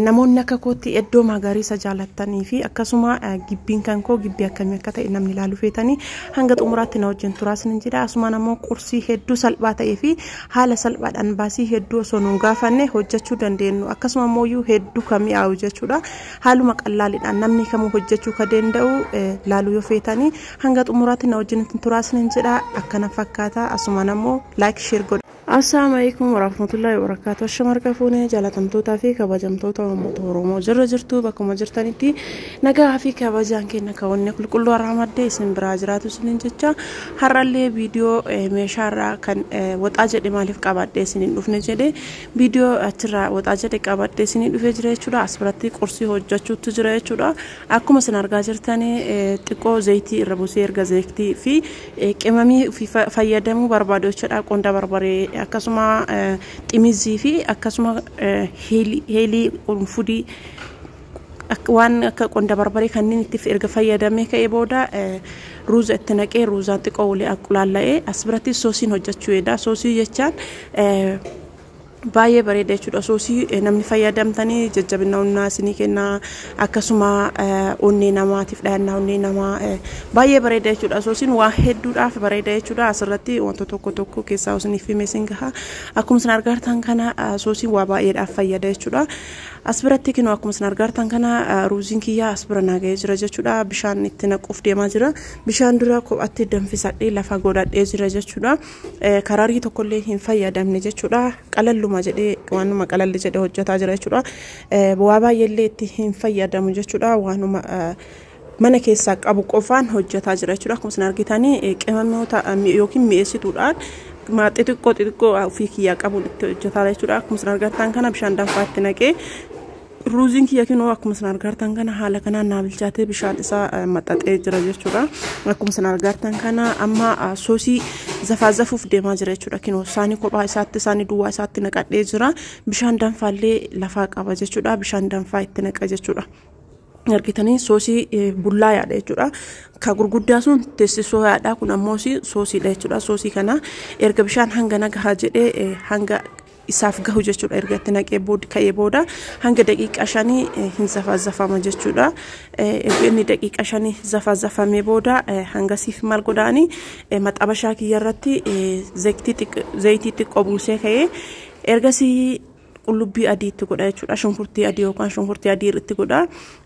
Namoonni akka kootti iddoo magariisa jaalattanii fi akkasuma gibbiin kan koo gibbii akkamii akka ta'e namni ilaaluu feetanii hanga xumuraatti na wajjin turaa isinin jedha. Asumaan ammoo qursii hedduu salphaa ta'ee fi haala salphaadhaan baasii hedduu osoo nuun gaafanne hojjechuu dandeenyu akkasuma ammoo iyyuu hedduu kan mi'aawu jechuudha. Haaluma qallaaliidhaan namni kamuu hojjechuu ka danda'u laaluu yoo feetanii hanga xumuraatti na wajjin turaa isinin jedha akkana fakkaata asumaan ammoo laayik sheer godha. Assalaamu alaikum warahmatullahi wabarakatuh Ashama harka fuune jaalatamtootaa fi kabajamtoota uummata Oromoo jirra jirtu bakkuma jirtanitti nagaa fi kabajaan kenna ka'oonni qulqulluu har'a madde isin biraa jiraatu isinin jecha har'allee viidiyoo meeshaarraa kan waxaa jedhe maaliif qabadhe isinin dhufne jedhe viidiyoo achirraa waxaa jedhe qabadhe isinii dhufee jira jechuudha as biratti qursii hojjechuutu jira jechuudha akkuma isin argaa jirtanii xiqqoo zayitii irra busee erga zayitii fi Qimamii fayyadamuu barbaadu jechuudha. Qonda barbaree akkasuma ximizii fi akkasuma heelii qurunfudii waan akka qonda barbaree kanneen itti erga fayyadamee ka'ee booda ruuza itti naqee ruuzaan xiqqoo waliin qulaalla'ee as biratti soosiin hojjechuu eeda. Soosii jechaan Baay'ee bareeda jechuudha osoo isii namni fayyadamtanii jajjabina onnaa isinii kenna akkasuma onnee namaatiif dhayannaa onnee namaa baay'ee bareeda jechuudha osoo isin waa hedduudhaaf bareeda jechuudha asirratti wanta tokko tokko keessaa isiniif himee isin gaha akkuma isin argaartan kana osoo isin waa baay'eedhaaf fayyada jechuudha as biratti kinu akkuma isin argaartan kana ruuziin kiyyaa as bira naaga'ee jira jechuudha bishaan itti naquuf deemaa jira bishaan dura kophaatti danfisadhee lafa godhadhee jira jechuudha. kararii tokkollee hin fayyadamne jechuudha. Qalalluma jedhee waanuma qalalli jedhee hojjetaa jira jechuudha. Waa baay'eellee itti hin fayyadamu jechuudha. Waanuma mana keessaa qabu qofaan hojjetaa jira jechuudha. Akkuma isin argitanii qimamoota yookiin mi'eessituudhaan maa xixiqqoo xixiqqoo ofii kiyyaa qabuun itti hojjetaa jechuudha. Akkuma isin argattan kana bishaan danfaatti naqee Ruuziin kiyya kinoo akkuma isin argaartan kana haala kanaan naa bilchaatee bishaan isaa maxxaxee jira jechuudha. Akkuma isin argaartan kana amma soosii zafaa zafuuf deemaa jira jechuudha. Kinoo isaanii kophaa isaatti isaanii duwwaa isaatti naqadhee jira. Bishaan danfaallee lafaa qaba jechuudha. Bishaan danfaa itti naqa jechuudha. argitanii soosii bullaa yaadha jechuudha. Ka gurguddaa sun teessisoo yaadha kun ammoo soosiidha jechuudha. Soosii kana erga bishaan hanga nagahaa jedhee hanga isaaf gahu jechuudha erga itti naqee bood ka'ee booda hanga daqiiqaa shanii eh, hin zafaazafama jechuudha Eh, erga inni daqiiqaa shanii zafaazafamee booda eh, hangasiif maal godhaani Eh, maxabashaa kiyya irratti eh, zayitii xiq- zayitii xiqqoo buusee ka'ee ergasii qullubbii adii itti godha jechuudha shunkurtii adii yookaan shunkurtii adii itti godha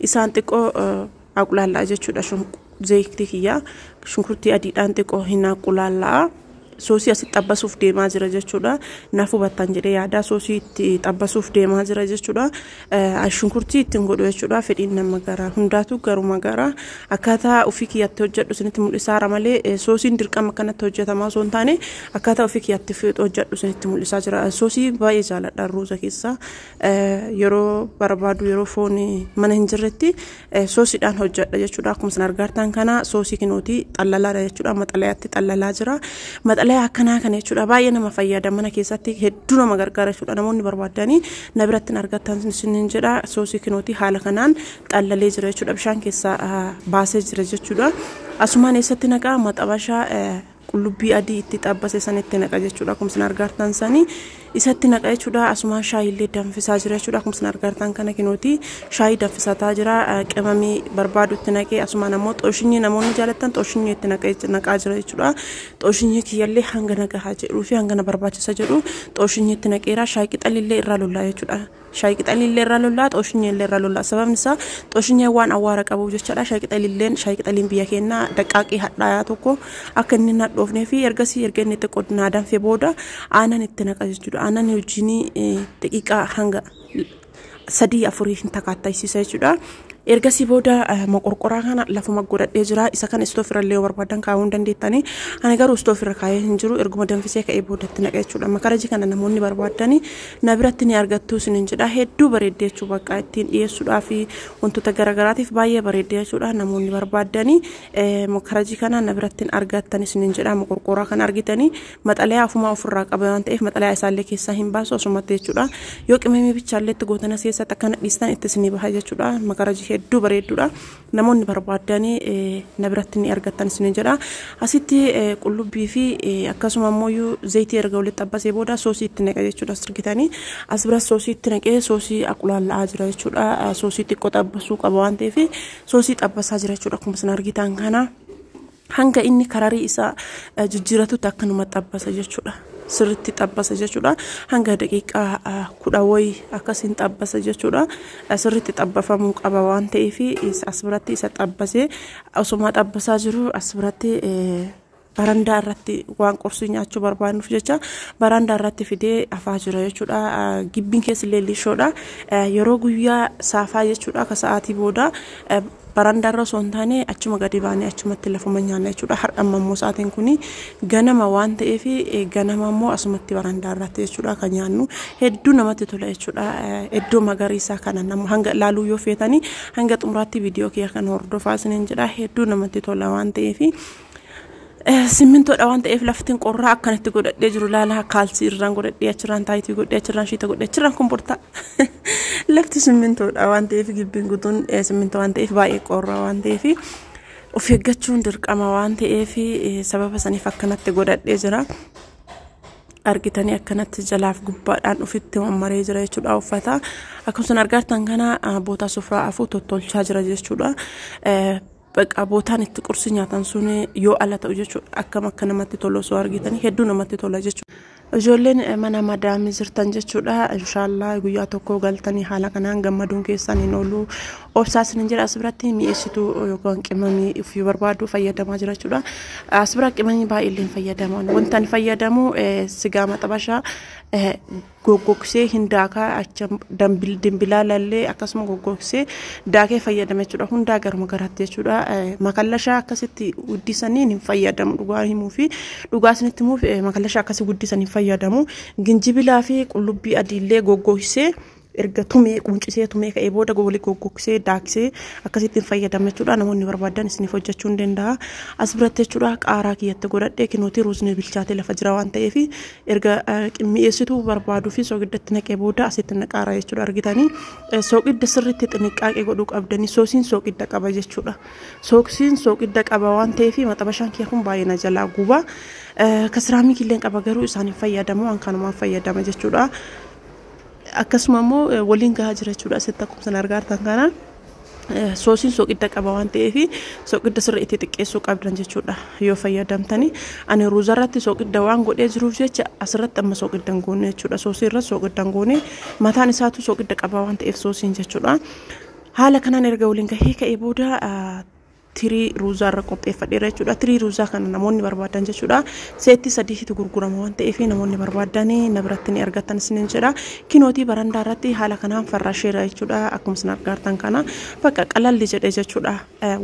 isaan xiqqoo eh, Aqulaallaa jechuudha zeeyiktii kiyyaa shunkurtii adiidhaan xiqqoo hin aqulaallaa soosii asitti xabbasuuf deemaa jira jechuudha naaf hubattan jedhee yaadaa soosii itti xabbasuuf deemaa jira jechuudha shunkurtii ittiin godhu jechuudha fedhiin nama garaa hundaatu garuma garaa akkaataa ofii kiyyatti hojjedhu isinitti mul'isaara malee soosiin dirqama akkanatti hojjetamaa osoo hin taane akkaataa ofii kiyyatti hojjedhu isinitti mul'isaa jira soosii baay'ee jaaladha ruuza keessaa yeroo barbaadu yeroo foon mana hin jirretti soosiidhaan hojjedha jechuudha. Akkuma isin argaartan kana soosii kinooti xallalaadha jechuudha. Maxalayaatti xallalaa jira. Maxalayaa akkanaa kana jechuudha baay'ee nama fayyada mana keessatti hedduu nama gargaara jechuudha. Namoonni barbaadanii na biratti hin argattan isiniin jedha soosii kinooti haala kanaan xallalee jira jechuudha. Bishaan keessaa baasee jira jechuudha. Asumaan eessatti naqaa maxabashaa qullubbii adii itti xabbase san itti naqa jechuudha akkuma isin argaartan sani isatti naqa jechuudha asumaan shaayii illee danfisaa jira jechuudha akkuma isin argaartan kana kinooti shaayii danfisataa jira qimamii barbaadu itti naqee asumaan ammoo xooshinyii namoonni jaalattan xooshinyii itti naqaa jira jechuudha xooshinyii kiyyallee hanga naqahaa jedhuu fi hanga na barbaachisa jedhu xooshinyii itti naqeera shaayii qixalillee irraa lollaa jechuudha. Shaayii qixaliillee irra lollaa, xooshinyee illee irra lollaa. Sababni isaa xooshinyeen waan awwaara qabuuf jechaadha. Shaayii qixaliilleen shaayii qixaliin biyya keenyaa daqqaaqii hadhaayaa tokko akka inni hin hadhoofnee fi ergasii erga inni xiqqoo naa danfe booda aanan itti naqa jechuudha. Aanan wajjin daqiiqaa hanga sadii afurii hin takaattaysiisa jechuudha. Ergasii booda moqorqoraa kana lafuma godhadhee jira. Isa kana istoofirra illee yoo barbaadan kaa'uu hin dandeettani. Ani garuu istoofirra kaa'ee hin jiru. Erguma danfisee ka'ee boodatti naqa jechuudha. Makarajii kana namoonni barbaadani na biratti ni argattuu isinin jedha hedduu bareeddi jechuu bakka ittiin dhiyeessuudhaa fi wantoota garaagaraatiif baay'ee bareeddi jechuudha namoonni barbaaddanii eh, makarajii kana na biratti hin argattan isinin jedha moqorqooraa kan argitanii maxalayaa ofumaa ofirraa qaba waan ta'eef maxalayaa isaallee keessaa hin baasu osumatti jechuudha yoo qimamii bichaallee itti gootanas keessatti akkana dhiistan itti isinii baha jechuudha makarajii hedduu bareedduudha. Namoonni barbaadan na biratti ni argattan isiniin jedha. Asitti qullubbii fi akkasuma immoo zayitii erga walitti xabbasee booda soosii itti naqa jechuudha sirgitanii. As biras soosii itti naqee soosii aqulaalla'aa jira jechuudha. Soosii xiqqoo xabbasuu qaba waan ta'eef soosii xabbasaa jira jechuudha akkuma isin argitan kana. Hanga inni kararii isaa jijjiiratutti akkanuma xabbasa jechuudha. Sirritti xabbasa jechuudha. Hanga daqiiqaa kudha wayi akkasiin xabbasa jechuudha. Sirritti xabbafamuu qaba waan ta'eef as biratti isa xabbasee osuma xabbasaa jiru as biratti barandaa irratti waan qursii nyaachuu barbaannuuf jecha barandaa irratti fidee afaa jira jechuudha. Gibbiin keessa illee lishoodha. Yeroo guyyaa saafaa jechuudha akka sa'aatii booda Barandaarra osoo hin taane achuma gadi baanee achumatti lafuma nyaanna jechuudha. Har'a amma immoo sa'aatiin kun ganama waan ta'eef ganama immoo asumatti barandaarratti jechuudha kan nyaannu. Hedduu namatti tola jechuudha. Iddoo magariisaa kana nama hanga ilaaluu yoo feetanii hanga xumuraatti viidiyoo kiyya kan hordofaa isiniin jedha. Hedduu namatti tola waan ta'eef simmintoodha waan ta'eef laftiin qorraa akkan itti godhadhee jiru laalaa kaalsii irraan godhadhee achirraan taayitii godhee achirraan shiita godhee achirraan komportaa lafti simmintoodha waan ta'eef gibbiin guutuun simmintoo waan ta'eef baay'ee qorraa waan ta'eef of eeggachuun dirqama waan ta'eef sababa saniif akkanatti godhadhee jira. argitanii akkanatti jalaaf gubbaadhaan ofitti mammaree jira jechuudha uffata akkasumas argaartan kana bootaa sufraa afuu tottolchaa jira jechuudha. Baqa bootaan itti qursi nyaatan sun yoo ala ta'u jechuudha. Akkam akka namatti tolu osoo argitanii hedduu namatti tola jechuudha. Ijoolleen eh, mana madaamii jirtan jechuudha. Inshaallah guyyaa tokko galtanii haala kanaan gammaduun keessan hin oolu. Obsaa isinin jedha as biratti mi'eessituu yookaan qimamii ofii barbaadu fayyadamaa jira jechuudha. As bira qimamii baay'ee illee hin fayyadaman. Wanta ani fayyadamu eh, sigaa maxabashaa eh, goggogsee hindaakaa acha dambil- dimbilaalallee akkasuma goggogsee daakee fayyadama jechuudha hundaa garuma garaatti jechuudha Eh, makallashaa akkasitti guddisaniin hin fayyadamu dhugaa himuu fi dhugaa isinitti himuuf eh, makallashaa akkasii guddisan hin fayyadamu ginjibilaa fi qullubbii adiillee goggogsee erga tumee quncisee tumee ka'ee booda wali goggogsee daaksee akkasitti hin fayyadama jechuudha namoonni barbaadan isiniif hojjechuu ni danda'a as biratti jechuudha qaaraa kiyyatti godhadhee kinooti ruusni bilchaatee lafa jira waan ta'eef erga mi'eessituu barbaaduu fi soogiddatti naqee booda asitti naqaara jechuudha argitanii soogidda sirriitti xinniqqaaqee godhuu qabdanii soosiin soogidda qaba jechuudha soosiin soogidda qaba waan ta'eef maxabashaan kiyya kun baay'ee na jalaa guba kasiraamii killeen qaba garuu isaan hin fayyadamu waan kanumaan fayyadama jechuudha akkasuma immoo waliin gahaa jira jechuudha asitti akkuma isin argaa jirtan kana. soosiin soqidda qaba waan ta'eef soqidda sirri itti xiqqeessuu qabdan jechuudha yoo fayyadamtani ani ruuza irratti soqidda waan godhee jiruuf jecha asirratti amma soqidda hin goone jechuudha soosii irratti soqidda hin goone mataan isaatu soqidda qaba waan ta'eef soosiin jechuudha haala kanaan erga waliin gahee ka'ee booda tirii ruuzaa irra qopheeffadheera jechuudha. Tirii ruuzaa kana namoonni barbaadan jechuudha. Seetti sadiitu gurgurama waan ta'eef namoonni barbaadan na biratti ni argattan isiniin jedha. Kinootii barandaa irratti haala kanaan farrasheera jechuudha. Akkuma isin argaartan kana bakka qalalli jedhe jechuudha.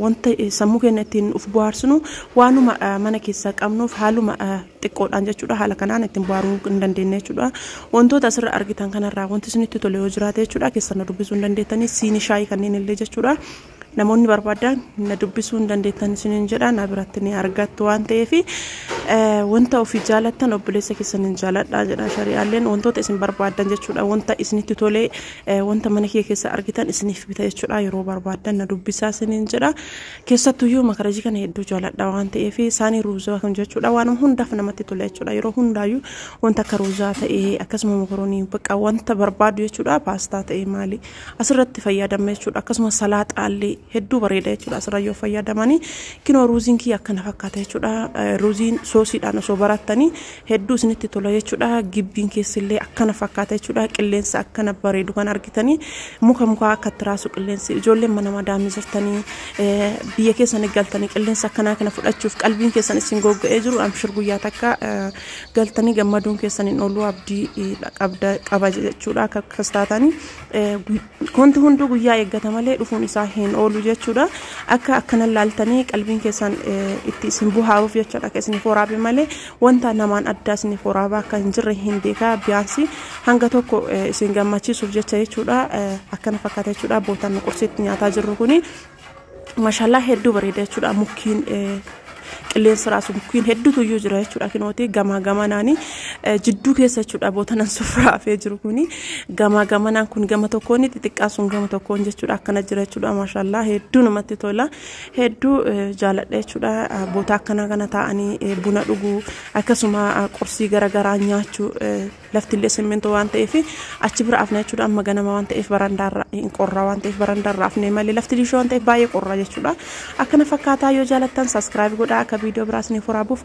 Wanta sammuu keenya ittiin of bohaarsinu waanuma mana keessaa qabnuuf haaluma xiqqoodhaan jechuudha. Haala kanaan ittiin bohaaruu hin dandeenye jechuudha. Wantoota asirra argitan kanarraa wanti isinitti tole yoo jiraate jechuudha. Keessan na dubbisuu hin dandeettanii siinii shaayii kanneen illee jechuudha. Namoonni barbaadan na dubbisuu hin dandeettan isiniin jedha na biratti ni argattu waan ta'eef wanta ofii jaalattan obboleessa keessan hin jaaladha jedha shari'aalleen wantoota isin barbaadan jechuudha wanta isinitti tolee wanta mana kee keessa argitan isiniif bita jechuudha yeroo barbaadan na dubbisaa isiniin jedha keessattuyyuu makarajii kana hedduu jaaladha waan ta'eef isaanii ruuzaa kan jechuudha waan hundaaf namatti tola jechuudha yeroo hundaayyuu wanta akka ruuzaa ta'ee akkasuma mokoroonii bakka wanta barbaadu jechuudha paastaa ta'ee maali asirratti fayyadamna jechuudha akkasumas salaaxaallee hedduu bareeda jechuudha asirra yoo fayyadamanii kinoo ruuziin kiyya akkana fakkaata jechuudha ruuziin soosiidhaan osoo barattanii hedduu isinitti tola jechuudha gibbiin keessillee akkana fakkaata jechuudha qilleensa akkana bareedu kan argitanii muka mukaa akka tiraasu qilleensi ijoolleen mana madaamii jirtanii biyya keessan galtanii qilleensa akkanaa kana fudhachuuf qalbiin keessan isin gogga'ee jiru amshir guyyaa takka galtanii gammaduun keessan hin oolu abdii qaba jechuudha akka akkas taatanii wanti hunduu guyyaa eeggata malee dhufuun isaa hin oolu jechuudha akka akkana laaltanii qalbiin keessan itti isin buhaaruuf jechuudha akka isiniif waraabe malee wanta namaan addaa isiniif waraabaa akka hin jirre hin beekaa biyyaansi hanga tokko isin gammachiisuuf jecha jechuudha akkana fakkaata jechuudha bootaan qursiitti nyaataa jirru kuni Mashallah hedduu bareeda jechuudha mukkiin eh, qilleensa raasu mukkiin hedduutu iyyuu jira jechuudha kinooti gamaa gamanaani eh, jidduu keessa jechuudha bootanan sufraa hafee jiru kuni gamaa gamanaan kun gama tokkoon xixiqqaa sun gama tokkoon jechuudha akkana jira jechuudha mashallah hedduu namatti tola hedduu eh, jaaladha jechuudha Ah, boota akkanaa kana taa'anii eh, buna dhuguu akkasuma ah, qursii garaagaraa nyaachuu eh, Lafti illee simmintoo waan ta'eef achi bira afna jechuudha. Amma ganama waan ta'eef barandaarra hin qorraa waan ta'eef barandaarra afnee malee lafti liishoo waan ta'eef baay'ee qorraa jechuudha. Akkana fakkaataa yoo jaalattan saskiraayib godhaa akka viidiyoo biraas ni furaabuuf.